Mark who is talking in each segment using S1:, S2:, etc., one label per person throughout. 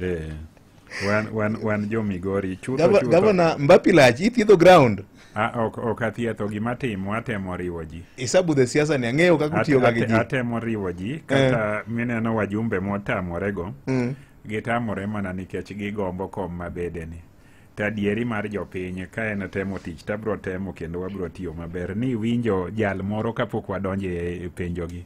S1: Eh, wan, wan, wan jo Migori chutho Gava- chutho. Gavana Mbapi
S2: lach ithiedho ground. Ah, ok ok
S1: athietho gima timo atemo riwo ji. Isabu the siasa ni
S2: ang'eyo kaka At- utiyo ga gi ate- ji. Atemo riwo ji
S1: kata mineno wajumbe motamorego Mm. gitamore mana nikech gigombo kom mabedeni. To adieri mar jopiny ka en temo tich to abiro temo kendo wabiro tiyo maber ni winjo jal moro kapok wadonjo e e penjogi.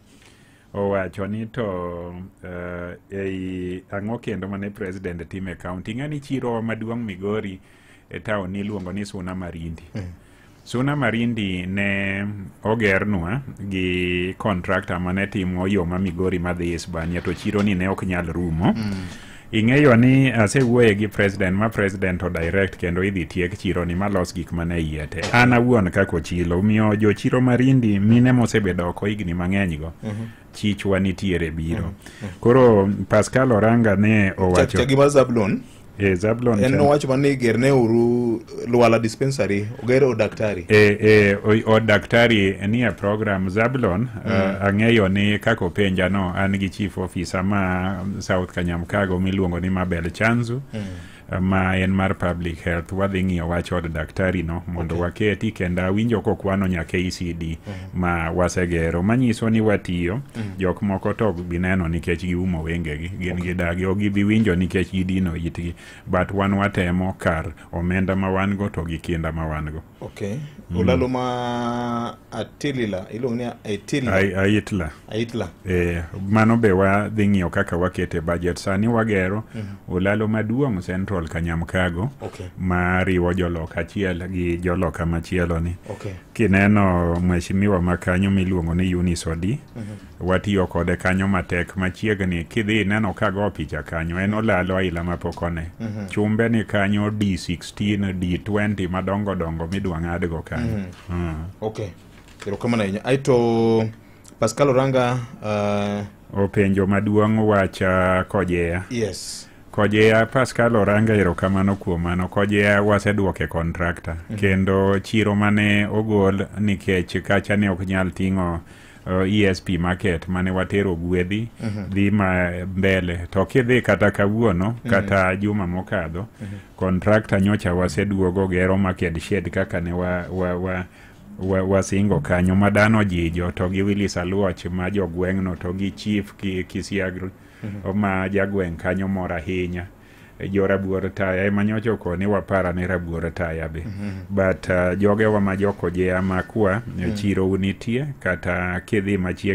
S1: owacho ni to uh, ei ang'o kendo mane president timo e kaunti ing'ani chiro maduong' migori e taon niluongo ni suna marindi mm. suna marindi ne ogernwa gi contractor mane timo yo ma migori madhi isbania to chironi ne ok nyal rumo mm. Ing'eyo ni asewuoye gi president ma president o direct kendo idhi tiek chiro ni malos gik mane iye te. An awuon kaka ochilo miyo jo chiro marindi mine mosebedo oko higni mang'eny go. Chichwa nitiere biro. Koro Pascal Oranga ne owacho. Chagi mar Zablon.
S2: E Zablon. En
S1: nowacho ma ni
S2: gerne uru Luala dispensary oger od daktari e, e, o- od
S1: daktari nie program zablon Mm. uh, ang'eyo ni kaka openja no an gi chief officer ma south kanyamkago miluongo ni mabel chanzu Mm. uh, ma en mar public health wadhi ng'iyo wach od daktari no mondo Okay. waketi kendo awinjo kokwano nyaka ecd Mhm. ma wasegero manyiso ni watiyo Mm. jok moko to ok bi neno nikech giumo wengegi gin gidagi ok gibi winjo nikech gidino itgi but wan watemo kar omenda ma wan go to gi kinda ma wan go okay mm. olalo ma
S2: atilila iluongo ni aitila aitla aitla eh
S1: mano be wa dhi ng'iyo kaka wakete budget sani wagero mm -hmm. olalo maduong' central kanyamkago okay. ma riwo jolok achiel gi joloka machielo ni okay. kineno mheshimiwa makanyo miluongo ni Eunice Odi mm -hmm. Watiyo kode kanyo matek machiegni kidhi ineno ka go picha kanyo en olalo aila mapok one. Chumbe ni kanyo D16, D20 madongo dongo midwa ng'adgo kanyo. Mm. okay
S2: erokamano ahinya aeto pascal oranga uh,
S1: Openjo maduong' wacha kojeya. yes Kojeya Pascal Oranga erokamano kuom mano. Kojeya waseduoke kontrakta kendo chiro mane ogol nikech kacha ne ok nyal ting'o uh, esp market mane watero gwedhi mm -hmm. dhi ma mbele to kidhi kata kawuono mm -hmm. kata juma mokadho mm -hmm. kontrakta nyocha waseduogo gero market shed kaka ne wa, wa, wa wasingo wa kanyo ma dhano jijo to gi Willis Aluoch ma jogweng'no to gi chief Kisiagri mm -hmm. ma jagweng' kanyo mor ahinya jo rabuor taya ema nyocha okone wapara ne rabuor taya be but uh, jogewa ma jokojea makwa chiro nitie kata kidhi machiegni